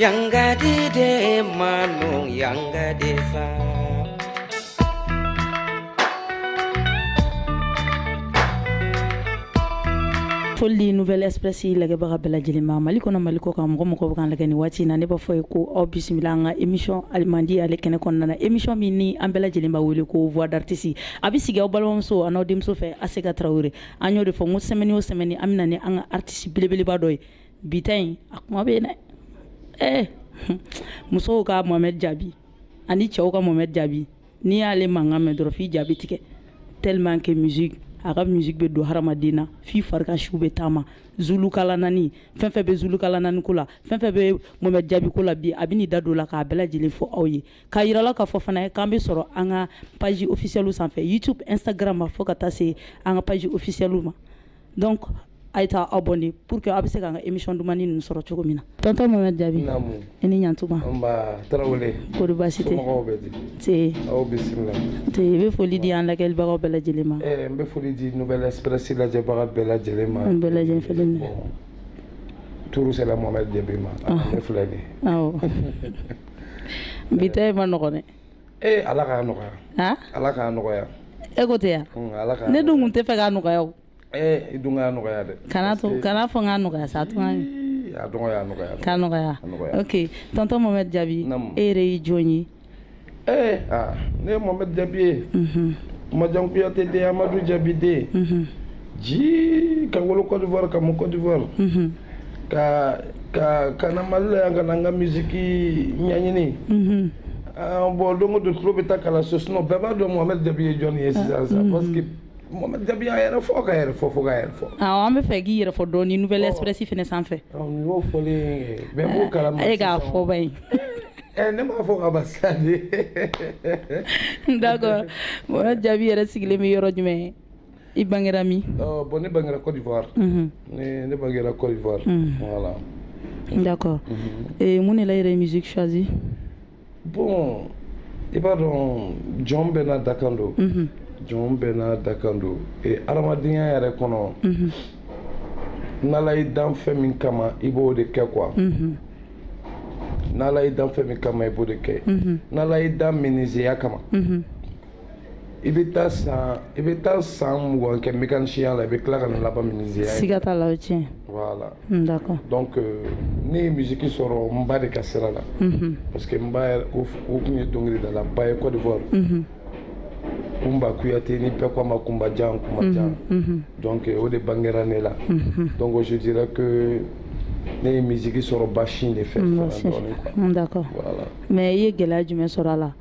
yan ka di dɛ manu yan ka di sa foli di nouvelle express lagɛbaga bɛɛ lajɛlen ma mali kɔnɔ mali kɔ kan mɔgɔ o mɔgɔ bɛ k'an lagɛ nin waati na ne b'a f'aw ye ko aw bisimila an ka émission alimandi ale kɛnɛ kɔnɔna na émission min ni an bɛɛ lajɛlen b'a wele ko voix d'artiste a bɛ sigi aw balimamuso an'aw denmuso fɛ Aseka Tarawele an y'o de fɔ n ko semaine o semaine an bɛ na ni an ka artiste belebeleba dɔ ye bi ta in a kuma bɛ yen dɛ ɛɛ musow ka mohamɛd jaabi ani cɛw ka mohamɛd jaabi n'i y'ale mankan mɛn dɔrɔn f'i ja bɛ tigɛ tellement que musique a ka musique bɛ don hadamaden na f'i fari kan siw bɛ taama zulukalanani fɛn fɛn bɛ zulukalanani ko la fɛn fɛn bɛ mohamɛd jaabi ko la bi a bɛ n'i da don o la k'a bɛɛ lajɛlen fɔ aw ye k'a yir'aw la k'a fɔ fana k'an bɛ sɔrɔ an ka page officielle sanfɛ youtube instagram fo ka taa se an ka page officielle ma donc a ye taa abonné pour que aw bɛ se k'an ka émission dumannin ninnu sɔrɔ cogo min na tɔntɔn mohamɛd jaabi i ni ɲantuma kori baasi tɛ aw bisimila i bɛ foli di an lajɛbagaw bɛɛ lajɛlen ma n bɛ foli di nouvelle express lajɛbaga bɛɛ lajɛlen ma n bɛɛ lajɛlen tour sera mohamɛd jaabi ma filɛ de bi ta ma nɔgɔn Ee ala k'a nɔgɔya ala k'a nɔgɔya e ko tɛ yan ne dun tun t'a fɛ k'a nɔgɔya i dun k'a nɔgɔya dɛ kana to kana fɔ n k'a nɔgɔya sa tuma k'a nɔgɔya oke tɔntɔn mohamɛd jaabi e yɛrɛ ye jɔn ye ee ne ye mohamɛd jaabi ye majan kuyate den amadu jaabi den ji ka wolo cote d'ivoire ka mɔ cote d'ivoire ka ka ka na mali la yan ka na n ka misiki ɲɛɲini bon don o don tulo bɛ taa kalanso sinon bɛɛ b'a dɔn mohamɛd jabi ye jɔni ye sisan sa parce que mohamɛd jabi y'a yɛrɛ fɔ ka yɛrɛ fɔ fo ka yɛrɛ fɔ awɔ an b'a fɛ i k'i yɛrɛ fɔ dɔɔni nouvelle express fɛnɛ sanfɛ nin y'o fɔlen ye bɛɛ b'o kalama e k'a fɔ ba ye Eh, ne m'a fɔ ka ban sa dɛ d'accord mohamɛd jabi yɛrɛ sigilen bɛ yɔrɔ jumɛn i bangera min bon ne bangera cote d'ivoire ne bangera cote d'ivoire voilà d'accord mun de la i yɛrɛ ye musique choisi bon i b'a dɔn jɔn bɛɛ n'a dakan don jɔn bɛɛ n'a dakan don hadamadenya yɛrɛ kɔnɔ n'ala y'i dan fɛn min kama i b'o de kɛ quoi n'ala y'i dan fɛn min kama i b'o de kɛ n'ala y'i dan minizeya kama i bɛ taa san i bɛ taa san mugan kɛ mécanicienya la i bɛ tila ka na laban menuisier ya siga t'a la o ye tiɲɛ voilà hmm, d'accord donc euh, ne ye musique sɔrɔ n ba de ka sira la mhm. parce que n ba yɛrɛ o tun ye dɔnkilidala ba ye Côte d'Ivoire mhm. Kumba Kuyate ni bɛɛ ko a ma Kumba Jan Kumba mhm, Jan donc euh, o de bangera ne la donc je dirais que ne ye musique sɔrɔ ba sin de fɛ hmm, d'accord voilà mais i ye gɛlɛya jumɛn sɔrɔ a la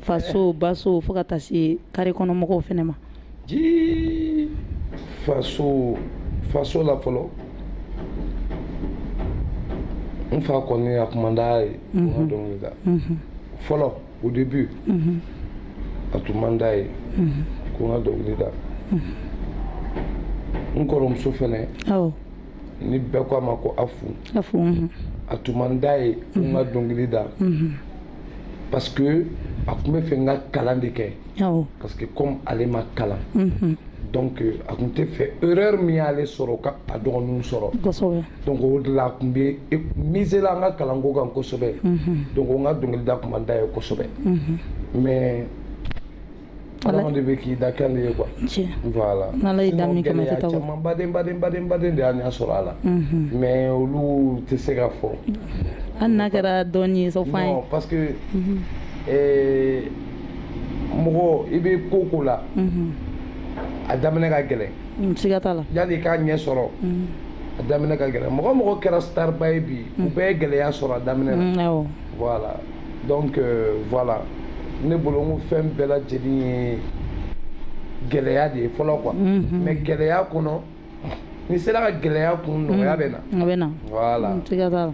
faso baso fo ka taa se carré kɔnɔ mɔgɔw fɛnɛ ma faso faso la fɔlɔ n fa kɔni a tun man d'a ye n ka dɔnkili da fɔlɔ au début a tun man d'a ye ko n ka dɔnkili da n kɔrɔmuso fɛnɛ ni bɛɛ ko a ma ko Afu a tun man d'a ye ko n ka dɔnkili da parce que a tun bɛ fɛ n ka kalan de kɛ parce que comme ale ma kalan mhm. donc euh, a tun tɛ fɛ erreur min y'ale sɔrɔ ka a dɔgɔninw sɔrɔ donc o de la a tun bɛ e, miser la an ka kalanko kan kosɛbɛ mhm. donc n ka dɔnkilida tun man d'a ye kosɛbɛ mhm. mais adamaden bɛ k'i dakan de ye quoi tiɲɛ voilà n'ala y'i da min kama i tɛ taa o gɛlɛya caman ba de ba de ba de ba de y'an sɔrɔ a la mais olu tɛ se ka fɔ hali n'a kɛra dɔɔni ye sɔ fɔ an ye non parce que euh, mɔgɔ i bɛ ko o ko la a daminɛ ka gɛlɛn siga t'a la yanni i k'a ɲɛ sɔrɔ a daminɛ ka gɛlɛn mɔgɔ o mɔgɔ kɛra starba ye bi u bɛɛ ye gɛlɛya sɔrɔ a daminɛ na voilà donc euh, voilà ne bolo n ko fɛn bɛɛ lajɛlen ye gɛlɛya de ye fɔlɔ quoi mhm. mais gɛlɛya kɔnɔ n'i sera ka gɛlɛya kun mhm. nɔgɔya bɛ na a bɛ na voilà mm, siga t'a la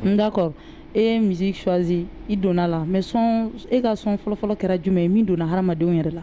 mm, d'accord e ye musique choisi i donna la mais son e ka son fɔlɔfɔlɔ kɛra jumɛn ye min donna hadamadenw yɛrɛ la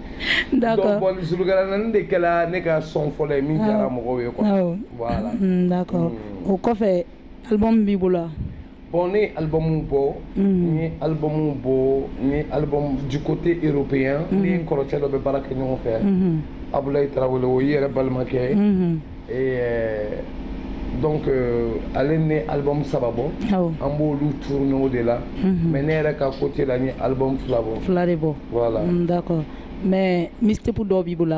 d'accord donc bon Zulukalanani de kɛla ne ka son fɔlɔ ye min diyara mɔgɔw ye quoi voilà mm, d'accord mm. o kɔfɛ album b'i bolo bon ne ye album bɔ mm. n ye album bɔ n ye album du côté européen ne ni n kɔrɔcɛ dɔ bɛ baara kɛ ɲɔgɔn fɛ mm-hmm. abulayi tarawele o y'i yɛrɛ balimakɛ ye mm-hmm. donc euh, ale ni n ye album saba bɔ an b'olu tournéew de la mhm. mais ne yɛrɛ ka côté la n ye album fila bɔ fila de bɔ voilà mm, d'accord mais mixtape dɔw b'i bolo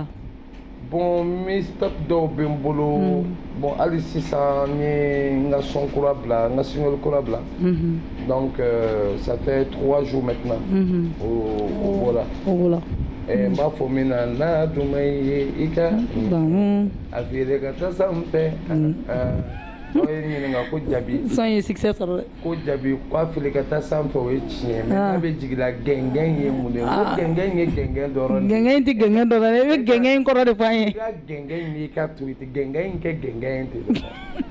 bon mixtape dɔw bɛ n bolo mm. bon hali sisan n ye n ka son kura bila n ka single kura bila mhm. Donc, euh, ça fait trois jours maintenant. Mhm. voilà. voilà. N b'a fɔ min na n'a duman i ye i ka. Bon. A fili ka taa sanfɛ. N'o ye ɲininka ko Jabi. Son ye succès sɔrɔ dɛ. Ko Jabi ko a fili ka taa sanfɛ o ye tiɲɛ mais n'a bɛ jigin la gɛngɛn ye mun de ye. Ko gɛngɛn ye gɛngɛn dɔrɔn de ye. Gɛngɛn in tɛ gɛngɛn dɔrɔn ye. I bɛ gɛngɛn in kɔrɔ de fɔ an ye. I ka gɛngɛn in n'i ka to yen. Gɛngɛn in kɛ gɛngɛn in ten.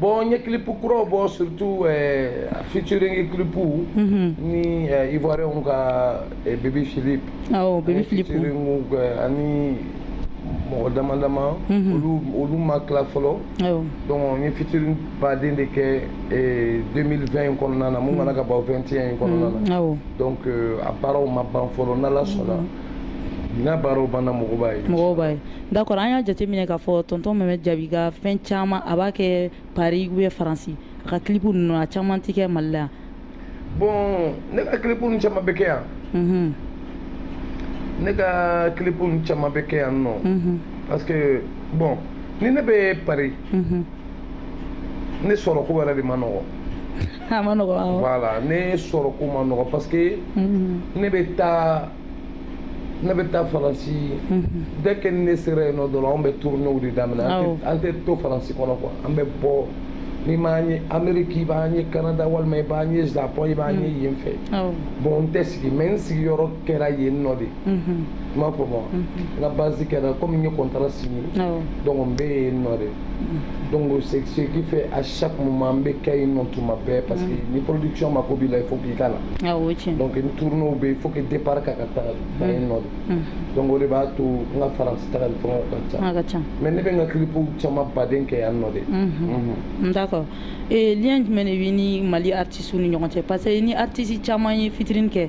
bon n ye kilipu kuraw bɔ surtout eh, featuring kilipu mhm. ni eh, ivoirien ka eh, Bebi Philip awɔ Bebi Philip ani mɔgɔ dama dama mhm. olu olu ma tila fɔlɔ donc n ye featuring baden de kɛ 2020 in kɔnɔna na mun mana ka ban 21 in kɔnɔna na mhm. donc euh, a baaraw ma ban fɔlɔ n'ala sɔnna n'a baaraw banna mɔgɔw b'a ye mɔgɔw b'a ye D'accord an y'a jateminɛ k'a fɔ tɔntɔn Mohamed Jabi ka fɛn caman a b'a kɛ Paris ou bien faransi a ka kilipu ninnu a caman tɛ kɛ mali la bɔn ne ka kilipu caman bɛ kɛ yan ne ka kilipu caman bɛ kɛ yan nɔ parce que bɔn ni ne bɛ Paris ne sɔrɔ ko wɛrɛ de ma nɔgɔ a ma nɔgɔ voilà ne sɔrɔ ko ma nɔgɔ parce que ne bɛ taa ne bɛ taa faransi dès que ne sera yen nɔ dɔrɔn an bɛ tournéew de daminɛ an tɛ to faransi kɔnɔ quoi an bɛ bɔ n'i m'an ye ameriki i b'an ye kanada walima i b'an ye japɔn i b'an ye yen fɛ bɔn n tɛ sigi mais n sigiyɔrɔ kɛra yen nɔ de i m'a faamu n ka base kɛra komi n ye contrat signé donc n bɛ yen nɔ de donc c'est ce qui fait à chaque moment n bɛ kɛ yen nɔ tuma bɛɛ parce que ni production mako b'i la il faut k'i k'a la awɔ tiɲɛ donc ni tournéew bɛ yen il faut que départ ka ka taga kɛ yen nɔ de donc o de b'a to n ka faransi tagali fɛngɛw ka ca a ka ca mais ne bɛ n ka kilipuw caman baden kɛ yan nɔ de d'accord ee lien jumɛn de b'i ni mali artistew ni ɲɔgɔn cɛ parce que i ni artiste caman ye featuring kɛ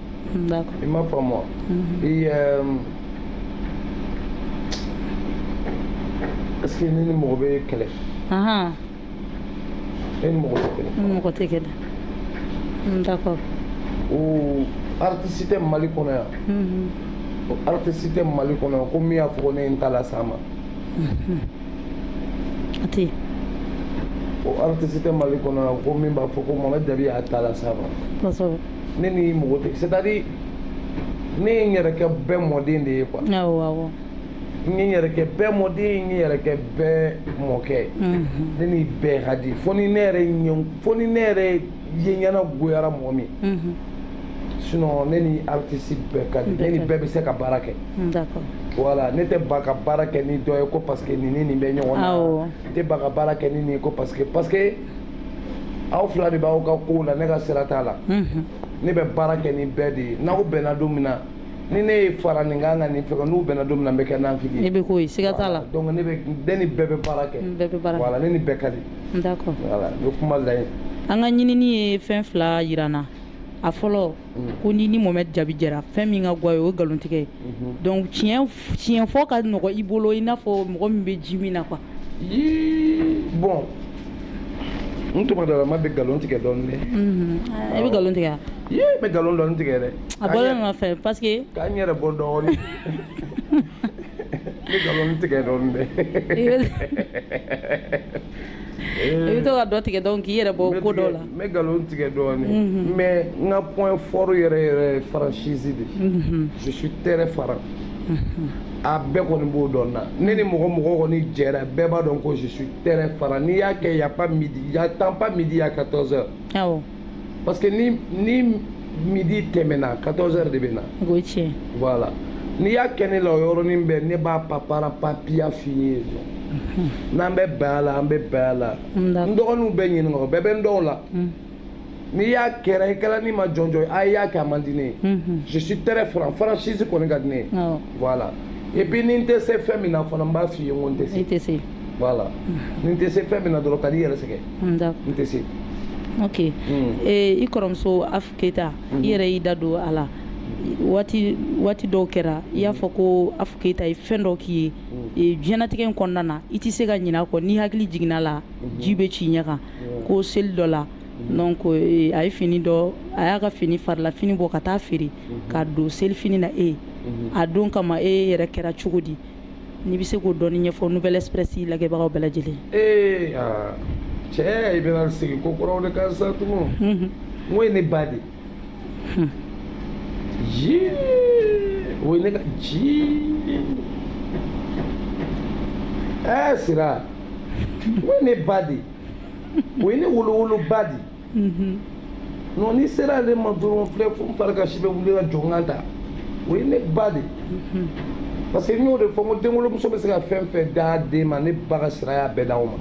D'accord. I m'a faamu wa. Mm-hmm. Et euh, est-ce que i ni mɔgɔ bɛ kɛlɛ Ah. Ne ni mɔgɔ tɛ kɛlɛ. I ni mɔgɔ tɛ kɛlɛ. Mm, d'accord. O artiste tɛ Mali kɔnɔ yan. Mm-hmm. O artiste tɛ Mali kɔnɔ yan ko min y'a fɔ ko ne ye n ta las'a ma. A tɛ yen. O artiste tɛ Mali kɔnɔ yan ko min b'a fɔ ko Mohamed Jabi y'a ta las'a ma. Kosɛbɛ. ne ni mɔgɔ tɛ c'est à dire ne ye n yɛrɛ kɛ bɛɛ mɔden de ye quoi awɔ awɔ n ye n yɛrɛ kɛ bɛɛ mɔden n ye n yɛrɛ kɛ bɛɛ mɔkɛ ye mhm. ne ni bɛɛ ka di fo ni ne yɛrɛ ɲɛ fo ni ne yɛrɛ ye ɲɛna goyara mɔgɔ min mhm. sinon ne ni artiste bɛɛ ka di ne ni bɛɛ bɛ se ka baara kɛ d'accord voilà ne tɛ ban ka baara kɛ ni dɔ ye ko parce que nin ni nin bɛ ɲɔgɔn na n tɛ ban ka baara kɛ ni nin ye ko parce que parce que aw fila de b'aw ka kow la ne ka sira t'a la ne bɛ baara kɛ ni bɛɛ de ye n'aw bɛnna don min na ni ne ye fara nin kan ka nin fɛ n'u bɛnna don min na n bɛ kɛ naafigi ne bɛ k'o ye siga t'a la donc ne bɛ ne ni bɛɛ bɛ baara kɛ bɛɛ bɛ baara voilà ne ni bɛɛ ka di d'accord voilà n bɛ kuma layi an ka ɲinini ye fɛn fila yira n na a fɔlɔ ko n'i ni mohamed jabi jɛra fɛn min ka go a ye o ye nkalontigɛ ye donc tiɲɛ tiɲɛ fɔ ka nɔgɔ i bolo i n'a fɔ mɔgɔ min bɛ ji min na quoi bon n tuma dɔ la ma bɛ nkalon tigɛ dɔɔnin dɛ i bɛ nkalon tigɛ n bɛ nkalon dɔɔnin tigɛ dɛ a bɔ ma fɛ parce que ka n yɛrɛ bɔ dɔɔnin n bɛ nkalon tigɛ dɔɔnin dɛ i bɛ to ka dɔ tigɛ dɔɔnin k'i yɛrɛ bɔ ko dɔ la n bɛ nkalon tigɛ dɔɔnin mhm. mais n ka point fort yɛrɛ yɛrɛ ye franchise de mhm. je suis très franc mhm. a bɛɛ kɔni b'o dɔn n na ne ni mɔgɔ mɔgɔ kɔni jɛra bɛɛ b'a dɔn ko je suis très franc n'i y'a kɛ y a pas midi j'attends pas midi à 14 heures awɔ parce que ni ni midi tɛmɛna 14 heures de bɛ na o ye tiɲɛ voilà n'i y'a kɛ ne la o yɔrɔnin bɛɛ ne b'a papara papiya f'i ye n'an bɛ bɛn a la an bɛ bɛn a la n dɔgɔninw bɛɛ ni n kɔrɔw bɛɛ bɛ n dɔn o la n'i y'a kɛra i kɛra ni ma jɔnjɔn ye a i y'a kɛ a man di ne ye je suis très franc franchise kɔni ka di ne ye voilà et puis ni n tɛ se fɛn min na fana n b'a f'i ye n ko n tɛ se voilà ni n tɛ se fɛn min na dɔrɔn kan'i yɛrɛ sɛgɛn n da n tɛ se ok ee i kɔrɔmuso afu keyita i yɛrɛ y'i da don a la waati waati dɔw kɛra i y'a fɔ ko afu keyita ye fɛn dɔ k'i ye ee, diɲɛnatigɛ in kɔnɔna na i tɛ se ka ɲinɛ a kɔ n'i hakili jiginna a la ji bɛ c'i ɲɛ kan ko seli dɔ la donc ee, a ye fini dɔ a y'a ka fini farila fini bɔ ka taa feere k'a don selifini na e ye a don kama e yɛrɛ kɛra cogo di n'i bɛ se k'o dɔɔni ɲɛfɔ Nouvelle Express lajɛbagaw bɛɛ lajɛlen ye. Ee aa cɛ i bɛna segin ko kɔrɔw de kan sa tugun. Unhun. N k'o ye ne ba de ye. Hun. Yii o ye ne ka jii. Ɛɛ Sira o ye ne ba de ye. O ye ne wolowoloba de ye. non n'i sera ale ma dɔrɔn filɛ fo n fari kan si bɛ wuli ka jɔ n kan ta o ye ne ba de parce que n y'o de fɔ n ko denwolomuso bɛ se ka fɛn fɛn d'a den ma ne ba ka sira y'a bɛɛ d'an ma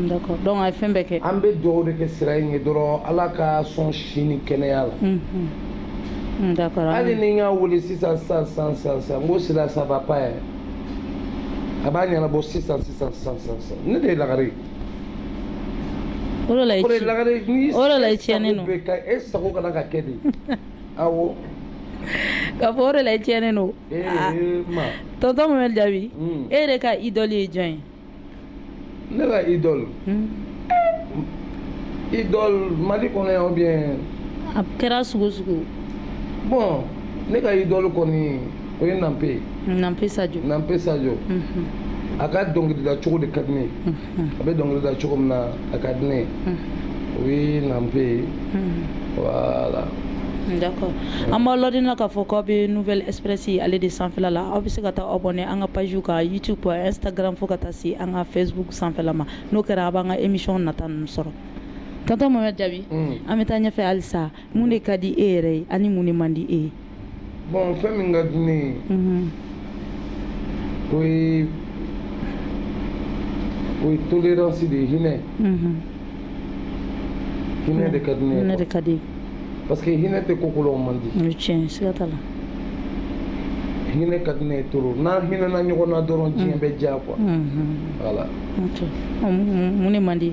d'accord donc a ye fɛn bɛɛ kɛ an bɛ dugawu de kɛ sira in ye dɔrɔn ala k'a sɔn si ni kɛnɛya la d'accord hali ni n y'a wele sisan sisan sisan sisan sisan n ko sira ça va pas yɛrɛ a b'a ɲɛnabɔ sisan sisan sisan sisan ne de ye lagare ye O de la i tiɲɛnen don, o de la i tiɲɛnen don, e sago ka kan ka kɛ de, awɔ, k'a fɔ o de la i tiɲɛnen don, ee ma, tonton Mohamed jaabi, un, e yɛrɛ ka idole ye jɔn ye? Ne ka idole, un, idole Mali kɔnɔ yan ou bien a kɛra sugu o sugu ye, bon ne ka idole kɔni o ye Nanpe Nanpe Sadio a ka dɔnkilida cogo de ka di ne a bɛ dɔnkilida cogo min na a ka di ne o ye Nanpe ye voilà D'accord. An b'aw ladina k'a fɔ k'aw bɛ Nouvelle Express ale de sanfɛla la aw bɛ se ka taa aw abonné an ka page kan YouTube Instagram fo ka taa se an ka Facebook sanfɛla ma n'o kɛra a b'an ka émission nata ninnu sɔrɔ tonton Mohamed Jaabi an bɛ taa ɲɛfɛ halisa mun de ka di e yɛrɛ ye ani mun de man di e ye bon fɛn min ka di ne ye o ye o ye tolérance de ye hinɛ hinɛ de ka di ne ye hinɛ de ka di parce que hinɛ tɛ ko kolon man di o ye tiɲɛ siga t'a la hinɛ ka di ne ye trop n'an hinɛna ɲɔgɔn na dɔrɔn diɲɛ bɛ diya quoi voilà mun de man di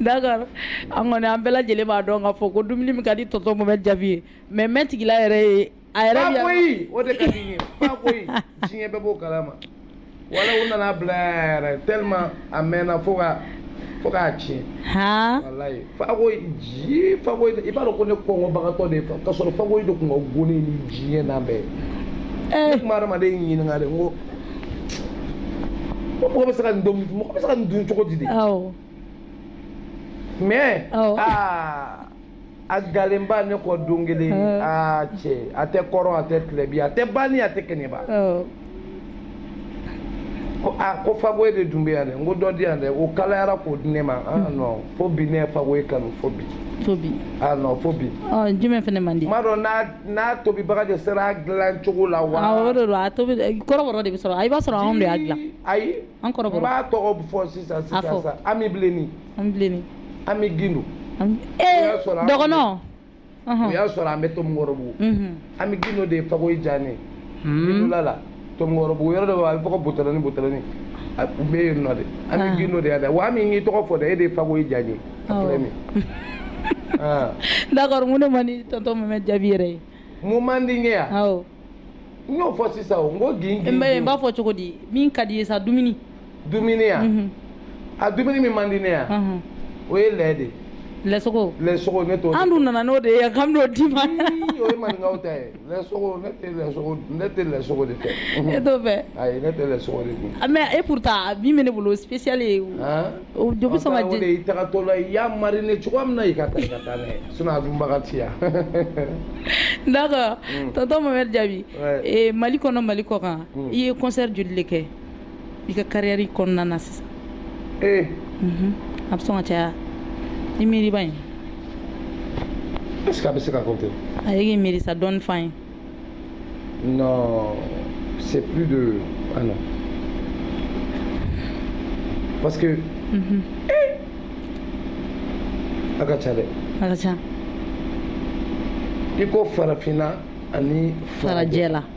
Dakari an kɔni an bɛɛ lajɛlen b'a dɔn ka fɔ ko dumuni min ka di tɔtɔ bɛ jaabi ye mɛ mɛ tigila yɛrɛ ye a yɛrɛ o b'o kala ma wala u nana bila yɛrɛ te a mɛnna fo ka fo k'a tiɲɛ ji fa i b'a dɔn ko ne kɔngɔbagatɔ de ka sɔrɔ fa de tun ka g ni diɲɛ na bɛɛ ye adamadamaden ɲininkaka ko mɔgɔ bɛ se ka nin dun mɔgɔ bɛ se ka nin dun cogo di de mais aa a galenba ne kɔ don kelen aa cɛ a tɛ kɔrɔn a tɛ tilebin a tɛ banni a tɛ kɛnɛba ko a ko fagoye de dun bɛ yan dɛ n ko dɔ di yan dɛ o kalayara k'o di ne ma ah hmm. non fo bi ne ye fagoye kanu fo bi fo bi ah non fo bi jumɛn fana man di n b'a dɔn n'a n'a tobibaga de sera a dilan cogo la wa awɔ o de don a tobi kɔrɔbɔrɔ de bɛ sɔrɔ i b'a sɔrɔ anw de y'a dilan ayi an kɔrɔbɔrɔ n b'a tɔgɔ fɔ sisan a fɔ sa Ami Bilenni Ami Bilenni Ami Gindo ee dɔgɔnɔ o y'a sɔrɔ an bɛ Tomikɔrɔbugu Ami Gindo de ye fakoyi diya ne ye Gindola la Tomikɔrɔbugu yɔrɔ dɔ bɛ a bɛ fɔ ko butɛlɛni butɛlɛni a tun bɛ yen nɔ de Ami Gindo de y'a da wa Ami n y'i tɔgɔ fɔ dɛ e de ye fakoyi diya n ye a filɛ nin d'accord mun de man di tonton Mohamed Jaabi yɛrɛ ye mun man di n ye yan awɔ n y'o fɔ sisan o n ko gin gin n b'a fɔ cogo di min ka d'i ye sa dumuni dumuni yan a dumuni min man di ne yan o ye lɛ de lɛsogo lɛsogo ne t'o an dun nana n'o de ye yan k'an b'o d'i ma o ye maninkaw ta ye Lɛsogo ne tɛ lɛsogo dun, ne tɛ lɛsogo de fɛ. E t'o fɛ? Ayi ne tɛ lɛsogo de dun. Mais et pourtant min bɛ ne bolo o ye spécial ye. An! O de bɛ sɔn ka jɛ. O de ye i tagatɔla ye, i y'a mariner cogoya min na, i ka taa i ka taa n'a ye. Sinon a dunbaga tɛ yan. D'accord tonton Mohamɛdi Jaabi, Mali kɔnɔ Mali kɔkan, i ye concert joli de kɛ? i ka carrière kɔnɔna na sisan ee mhm. a bɛ sɔn ka caya i miiriba in est-ce que a bɛ se ka compter a ye k'i miiri sa dɔɔni f'an ye non c'est plus de ah non parce que mhm. a ka ca dɛ a ka ca i ko farafinna ani farajɛla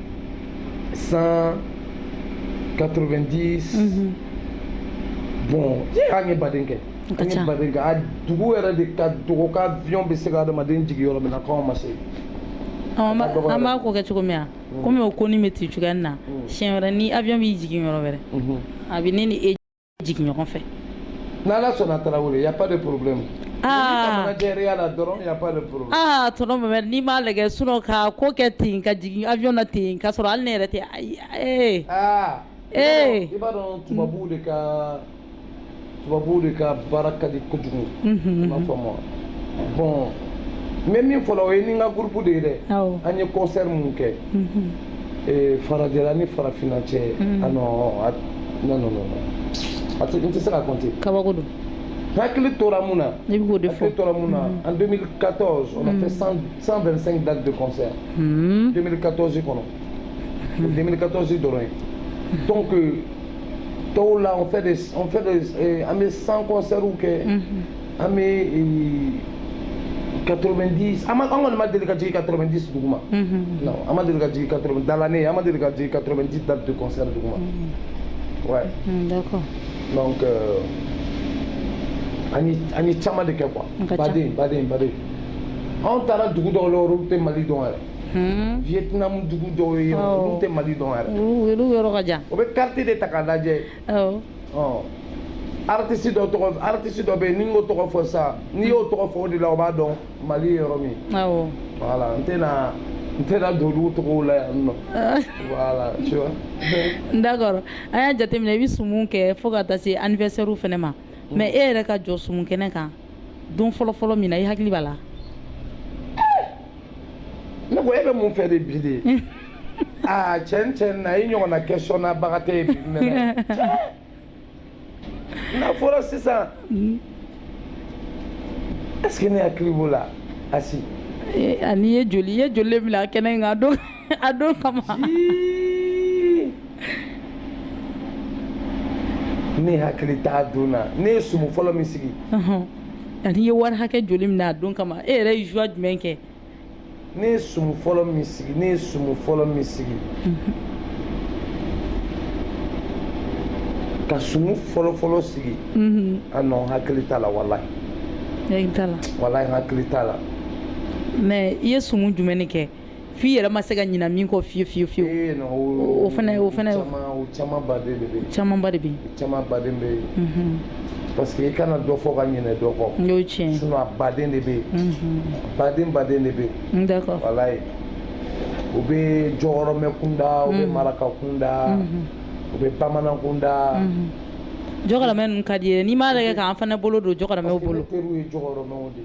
190 mhm. bon an ye baden kɛ an ye baden kɛ a dugu yɛrɛ de ka dɔgɔ ka avion bɛ se ka adamaden jigin yɔrɔ min na k'anw ma se an b'a ko kɛ cogo min na komi o kɔni bɛ ten cogoya na siɲɛ wɛrɛ ni avion b'i jigin yɔrɔ wɛrɛ a bɛ ne ni e jigin ɲɔgɔn fɛ n'ala sɔnna tarawele y a pas de problème aa jɛreya la dɔrɔn y a pas de problème aa tonton mohamed n'i m'a lajɛ sinon ka ko kɛ ten ka jigin avion na ten k'a sɔrɔ hali ne yɛrɛ tɛ ayi ee aa ee i b'a dɔn tubabuw de ka tubabuw de ka baara ka di kojugu i b'a faamu wa bon n bɛ min fɔ la o ye ni n ka groupe de ye dɛ an ye concert mun kɛ ee farajɛla ni farafinna cɛ ah non ah non non non a tɛ n tɛ se ka compter kabako don hakili tora mun na ne bɛ k'o de fɔ hakili tora mun na en 2014 on a fait 100 125 dates de concert 2014 kɔnɔ o 2014 dɔrɔn ye donc tɔw la on fait des on fait des eh, an bɛ 100 concerts kɛ an bɛ 90 an kɔni ma deli ka jigin 90 dugu ma non an ma deli ka jigin 80 dans l'année an ma deli ka jigin 90 dates de concert dugu ma ouais donc an ye caman de kɛ quoi baden baden baden anw taara dugu dɔw la olu tɛ mali dɔn yɛrɛ vietnam dugu dɔw ye olu tɛ mali dɔn yɛrɛ olu yɔrɔ ka jan o bɛ carte de ta k'a lajɛ awɔ ɔ artiste dɔ tɔgɔ artiste dɔ bɛ yen ni n k'o tɔgɔ fɔ sa n'i y'o tɔgɔ fɔ o de la o b'a dɔn mali ye yɔrɔ min ye awɔ voilà n tɛna n tɛna don olu tɔgɔw la yan non voilà tu vois d'accord an y'a jateminɛ i bɛ sumu kɛ fo ka taa se anniversaire fana ma mais e yɛrɛ ka jɔ sumu kɛnɛ kan don fɔlɔ fɔlɔ min na i hakili b'a la ne ko e bɛ mun fɛ de bi de aa tiɲɛ tiɲɛ na i ɲɔgɔnna question na baga tɛ yen bi mais n'a fɔra sisan est ce que ne hakili b'o la asi an'i ye joli i ye joli le mina kɛnɛ in kan don a don kama ne hakili t'a don na ne ye sumu fɔlɔ min sigi ani ye wari hakɛ joli mina a don kama e yɛrɛ ye jouer jumɛn kɛ ne ye sumu fɔlɔ min sigi ne ye sumu fɔlɔ min sigi ka sumu fɔlɔfɔlɔ sigi ah non hakili t'a la walahi hakili t'a la walahi hakili t'a la mais i ye sumu jumɛn de kɛ f'i yɛrɛ ma se ka ɲina min kɔ fiyewu fiyewu fiyewu ee, o fana o fana caman baden de bɛ caman ba de bɛ caman baden bɛ mhm. parce que i kana dɔ fɔ ka ɲinɛ dɔ kɔ n'o ye tiɲɛ sinon a baden de bɛ mhm. baden baden de bɛ yen d'accord walayi u bɛ jɔkɔrɔmɛ kunda u bɛ mhm. maraka kunda u bɛ bamanan kunda jɔkɔrɔmɛ ninnu ka d'i ye n'i m'a lajɛ k'an fana bolo don jɔkɔrɔmɛw bolo parce que ne teriw ye jɔkɔrɔmɛw de ye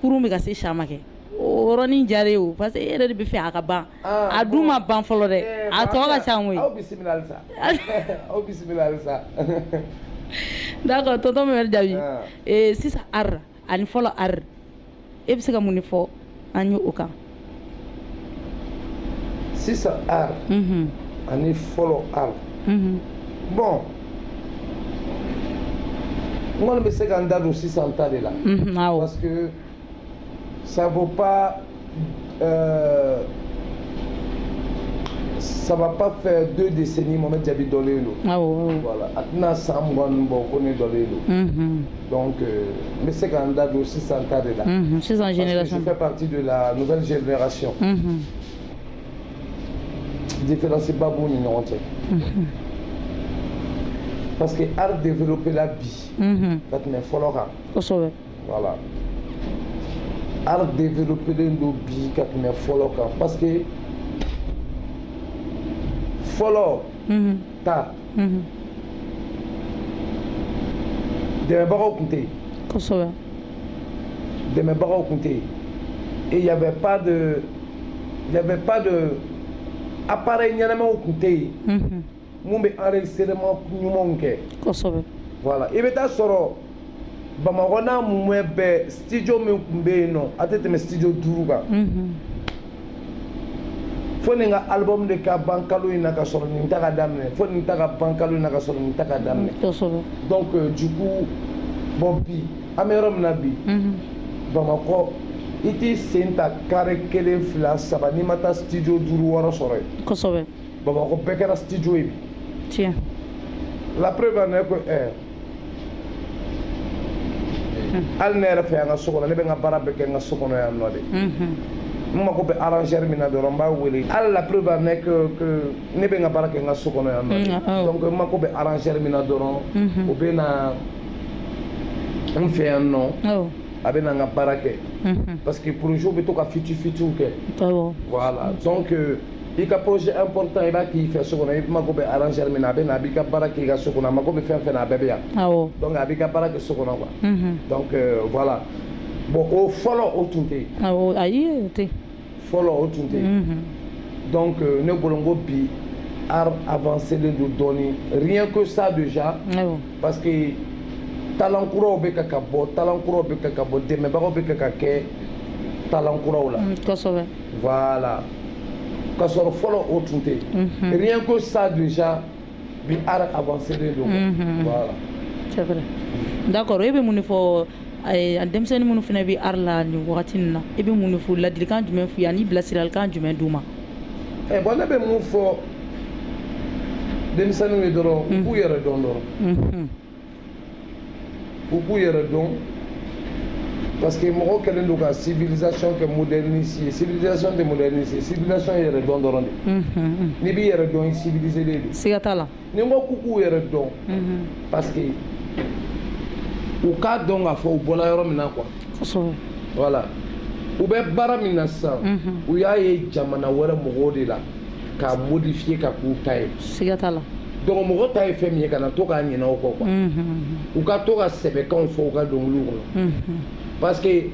kurun bɛ ka se Samakɛ o yɔrɔnin diyar'i ye o parce que e yɛrɛ de b'a fɛ a ka ban a dun ma ban fɔlɔ dɛ a tɔ ka ca koyi aw bisimila d'accord tonton Mohamed Diaby sisan art ani fɔlɔ art e bɛ se ka mun de fɔ an ye o kan sisan art mhm. ani fɔlɔ art mhm. bɔn n kɔni bɛ se ka n da don sisan ta de la mhm, parce que ça vaut pas euh, ça va pas faire deux décennies Mohamed Diaby dɔlen don voilà a tɛna san mugan bɔ ko ne dɔlen don Donc, euh, n bɛ se ka n da don sisan ta de la. Unhun, sisan génération. Parce que je fais partie de la nouvelle génération. Unhun. Différence ba b'u ni ɲɔgɔn cɛ. Unhun. Parce que art développé la bi. Unhun. Ka tɛmɛ fɔlɔ kan. Kosɛbɛ. Voilà. Art développé len don bi ka tɛmɛ fɔlɔ kan parce que fɔlɔ. Unhun. ta dɛmɛbagaw tun tɛ yen kosɛbɛ dɛmɛbagaw tun tɛ yen et il y avait pas de il y avait pas de appareil ɲɛnamaw tun tɛ yen mun bɛ enregistrement ɲumanw kɛ kosɛbɛ voilà i bɛ taa sɔrɔ bamakɔ n'a mumɛ bɛɛ studio min tun bɛ yen nɔ a tɛ tɛmɛ studio duuru kan fo nin ka album de ka ban kalo in na ka sɔrɔ nin ta ka daminɛ fo nin ta ka ban kalo in na ka sɔrɔ nin ta ka daminɛ donc euh, du coup bon bi an bɛ yɔrɔ min na bi bamakɔ i t'i sen ta kare kelen fila saba n'i ma taa studio duuru wɔɔrɔ sɔrɔ yen kosɛbɛ bamakɔ bɛɛ kɛra studio ye bi tiɲɛ la preuve en est que eh, hali ne yɛrɛ fɛ yan n ka so kɔnɔ ne bɛ n ka baara bɛɛ kɛ n ka so kɔnɔ yan nɔ de n mago bɛ arrangeur min na dɔrɔn n b'a wele hali la preuve en est que ne bɛ n ka baara kɛ n ka so kɔnɔ yan nɔ de donc n mago bɛ arrangeur min na dɔrɔn o bɛ na n fɛ yan nɔ a bɛ na n ka baara kɛ parce que projet bɛ to ka fiti fitiw kɛ voilà donc i ka projet important i b'a k'i fɛ so kɔnɔ i mago bɛ arrangeur min na a bɛ na a b'i ka baara k'i ka so kɔnɔ a mago bɛ fɛn fɛn na a bɛɛ bɛ yan donc a b'i ka baara kɛ so kɔnɔ quoi mhm. donc euh, voilà bon o fɔlɔ o tun tɛ yen ayi o tɛ fɔlɔ o tun tɛ yen mhm. donc euh, ne bolo n ko bi art avancé len don dɔɔni rien que ça déjà parce que talent kuraw bɛ ka ka bɔ talent kuraw bɛ ka ka bɔ dɛmɛbagaw bɛ ka ka kɛ talent kuraw la mm, kosɛbɛ voilà ka sɔrɔ fɔlɔ o tun tɛ yen rien que ça déjà bi art avancé len don voilà c'est vrai d'accord e bɛ mun de fɔ denmisɛnnin minnu fana bɛ art la nin wagati nin na e bɛ mun de fɔ ladilikan jumɛn f'u ye ani bilasiralikan jumɛn d'u ma ɛ bon ne bɛ mun fɔ denmisɛnninw ye dɔrɔn u k'u yɛrɛ dɔn dɔrɔn u k'u yɛrɛ dɔn parce que mɔgɔ kɛlen don ka civilisation kɛ modernisé ye civilisation tɛ modernisé ye civilisation ye yɛrɛ dɔn dɔrɔn de n'i b'i yɛrɛ dɔn i civilisé de don siga t'a la ni n ko k'u k'u yɛrɛ dɔn parce que u k'a dɔn k'a fɔ u bɔla yɔrɔ min na quoi kosɛbɛ voilà u bɛ baara min na sisan u y'a ye jamana wɛrɛ mɔgɔw de la k'a modifier ka k'u ta ye, siga t'a la, donc mɔgɔ ta ye fɛn min ye kana to ka ɲinɛ o kɔ quoi, u ka to ka sɛbɛkanw fɔ u ka dɔnkiliw kɔnɔ parce que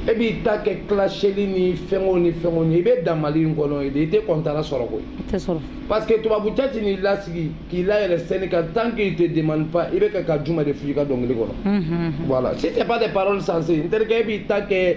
e b'i ta kɛ claseli ni fɛnko ni fɛnko ni i bɛ dan Mali in kɔnɔ yen de i tɛ kɔntara sɔrɔ koyi, i tɛ sɔrɔ parce que tubabu cɛ tɛ n'i lasigi k'i layɛlɛ scène kan tant qu'il te demande pas i bɛ ka ka jumɛn de fɔ i ka dɔnkili kɔnɔ, voilà si c'est pas des paroles sensées n terikɛ e b'i ta kɛ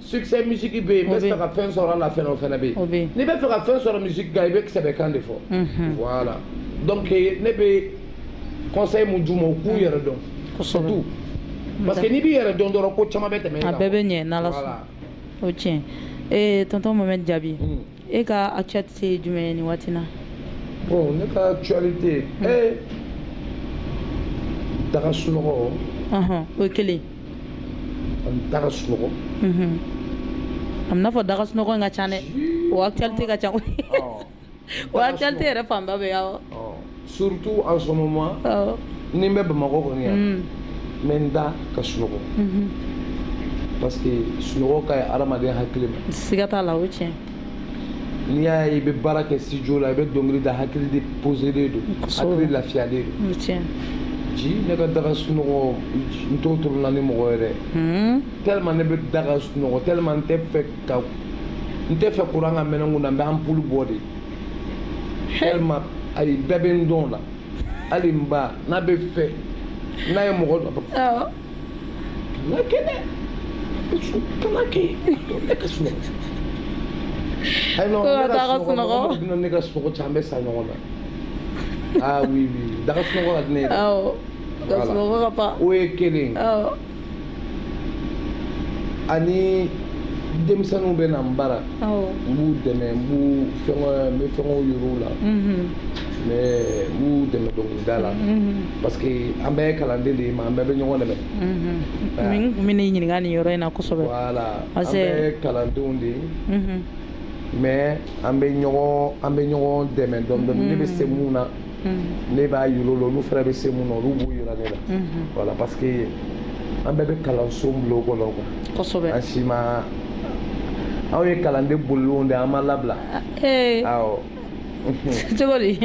succès musique bɛ yen n bɛ fɛ ka fɛn sɔrɔ a la fana o fana bɛ yen n'i bɛ fɛ ka fɛn sɔrɔ musique kan i bɛ sɛbɛkan de fɔ mhm. voilà donc ne bɛ conseil mun d'u ma u k'u yɛrɛ dɔn surtout parce que n'i b'i yɛrɛ dɔn dɔrɔn ko caman bɛ tɛmɛ i kan a bɛɛ bɛ ɲɛ n'Ala sɔnna o ye tiɲɛ ye ee tonton Mohamed Diaby. E ka actualité ye jumɛn ye nin waati na bon ne ka actualité ee da ka sunɔgɔ ɔhɔn o ye kelen ani da ka sunɔgɔ a bɛna fɔ da ka sunɔgɔ in ka ca dɛ o actualité ka ca koyi o actualité yɛrɛ fanba bɛ ye awɔ surtout en ce moment ni n bɛ bamakɔ kɔni yan n bɛ n da ka sunɔgɔ parce que sunɔgɔ ka ɲi adamaden hakili ma siga t'a la o tiɲɛ n'i y'a ye i bɛ baara kɛ studio la i bɛ dɔnkili da hakili de poselen don hakili lafiyalen don tiɲɛ ji ne ka da ka sunɔgɔ n t'o tolon na ni mɔgɔ ye dɛ tellement ne bɛ da ka sunɔgɔ tellement n tɛ fɛ ka n tɛ fɛ kuran ka mɛnɛ n kun na n bɛ anpulu bɔ de tellement ayi bɛɛ bɛ n dɔn o la hali n ba n'a bɛ fɛ n'a ye mɔgɔ dɔ awɔ kana kɛ dɛ kana kɛ ne ka sunɔgɔ ayi non Ko ka taa ka sunɔgɔ mɔgɔ bɛna ne ka sunɔgɔ cɛn an bɛ sa ɲɔgɔn na ah oui oui da ka sunɔgɔ ka di ne ye dɛ awɔ ka Voilà. sunɔgɔ ka fa o ye kelen ye awɔ ani denmisɛnninw bɛ na n bara n b'u dɛmɛ n b'u fɛngɛ n bɛ fɛngɛw yir'u la n bɛ n b'u dɛmɛ dɔnkilida la parce que an bɛɛ ye kalanden de ye mais an bɛɛ bɛ ɲɔgɔn dɛmɛ n tun bɛ n'i ɲininka nin yɔrɔ in na kosɛbɛ voilà an bɛɛ ye kalandenw de ye mais an bɛ ɲɔgɔn an bɛ ɲɔgɔn dɛmɛ dɔɔnin dɔɔnin ne bɛ se mun na Mm-hmm. ne b'a yir'u la olu fana bɛ se mun na olu b'u yira ne la mm-hmm. voilà parce que an bɛɛ bɛ kalanso bulon kɔnɔ quoi kosɛbɛ an si ma anw ye kalanden bolilenw de an ma labila ah, eh. awɔ cogo di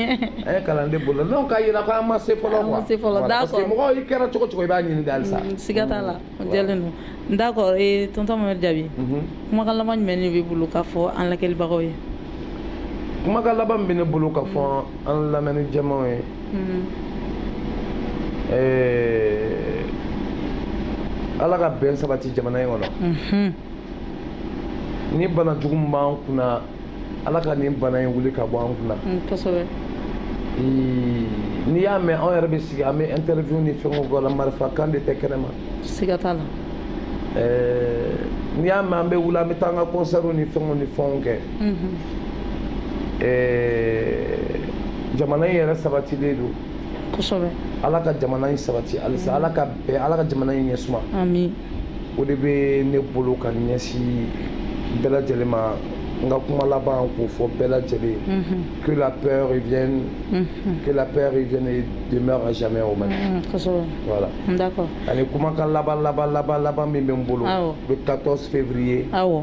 an ye kalanden bolilen non k'a yira ko an ma se fɔlɔ quoi an ma se fɔlɔ d'accord parce que mɔgɔ i kɛra cogo cogo i b'a ɲini de halisa mm, siga t'a la Jɛlen don d'accord ee tonton Mohamed Jaabi unhun kumakan laban jumɛn de b'i bolo k'a fɔ an lajɛlibagaw ye kumakan laban min bɛ ne bolo ka fɔ an lamɛnni jama in ye Mhm. ɛɛ ala ka bɛn sabati jamana in kɔnɔ Mhm. ni bana jugu min b'an kunna ala ka nin bana in wuli ka bɔ an kunna mm, kosɛbɛ n'i y'a mɛn anw yɛrɛ bɛ sigi an bɛ interview ni fɛnw kɛ la marifa kan de tɛ kɛnɛma siga t'a la n'i y'a mɛn an bɛ wuli an bɛ taa an ka concert ni fɛnw ni fɛnw kɛ mhm. jamana in yɛrɛ sabatilen don kosɛbɛ ala ka jamana in sabati halisa ala ka bɛn ala ka jamana in ɲɛsuma amin o de bɛ ne bolo ka ɲɛsin bɛɛ lajɛlen ma n ka kuma laban k'o fɔ bɛɛ lajɛlen que la paix revienne que la paix revienne et demeure à jamais au Mali kosɛbɛ voilà d'accord ani kumakan laban laban laban laban min bɛ n bolo awɔ le 14 février awɔ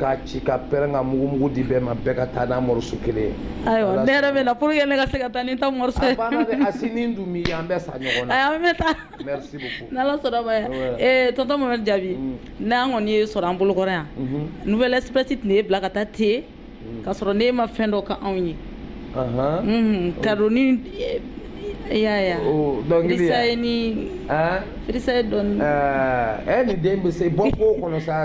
k'a ci ka pɛrɛn ka mugumugu di bɛɛ ma bɛɛ ka taa n'a morceau kelen ye ayiwa ne yɛrɛ bɛ na pour que ne ka se ka taa ni n ta morceau ye a banna dɛ a si ni dun mi an bɛɛ sa ɲɔgɔn na ayi an bɛ taa merci beaucoup n'ala sɔnna ma ee tonton mohamed jaabi mm. n'an kɔni y'e sɔrɔ an bolokɔrɔ yan mhm. nouvelle express tɛna e bila ka taa ten mm. k'a sɔrɔ n'e ma fɛn dɔ k'anw ye mhm. oh. kadon ni yaya oh, dɔnkiliya ni firisa ye dɔɔni ɛɛ eh, eh, ni den bɛ se bɔ ko kɔnɔ sa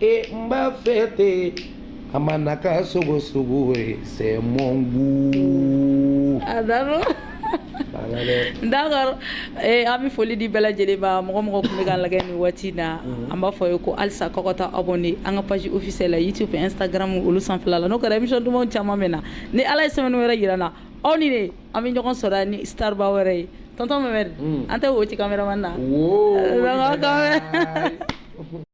e n b'a fɛ ten a ma na ka sogo sogo ye c'est mon goût a d'accord d'accord eh, an bɛ foli di bɛɛ lajɛlen ma mɔgɔ o mɔgɔ tun bɛ k'an lagɛ nin waati in na mhm. an b'a f'aw ye ko halisa k'aw ka taa abonné an ka page officielle la youtube instagram olu sanfɛla la n'o kɛra émission dumanw caman bɛ na ni ala ye semaine wɛrɛ yira an na aw ni ne an bɛ ɲɔgɔn sɔrɔ ni starba wɛrɛ ye tonton mamɛdi mm. an tɛ wo ci cameraman na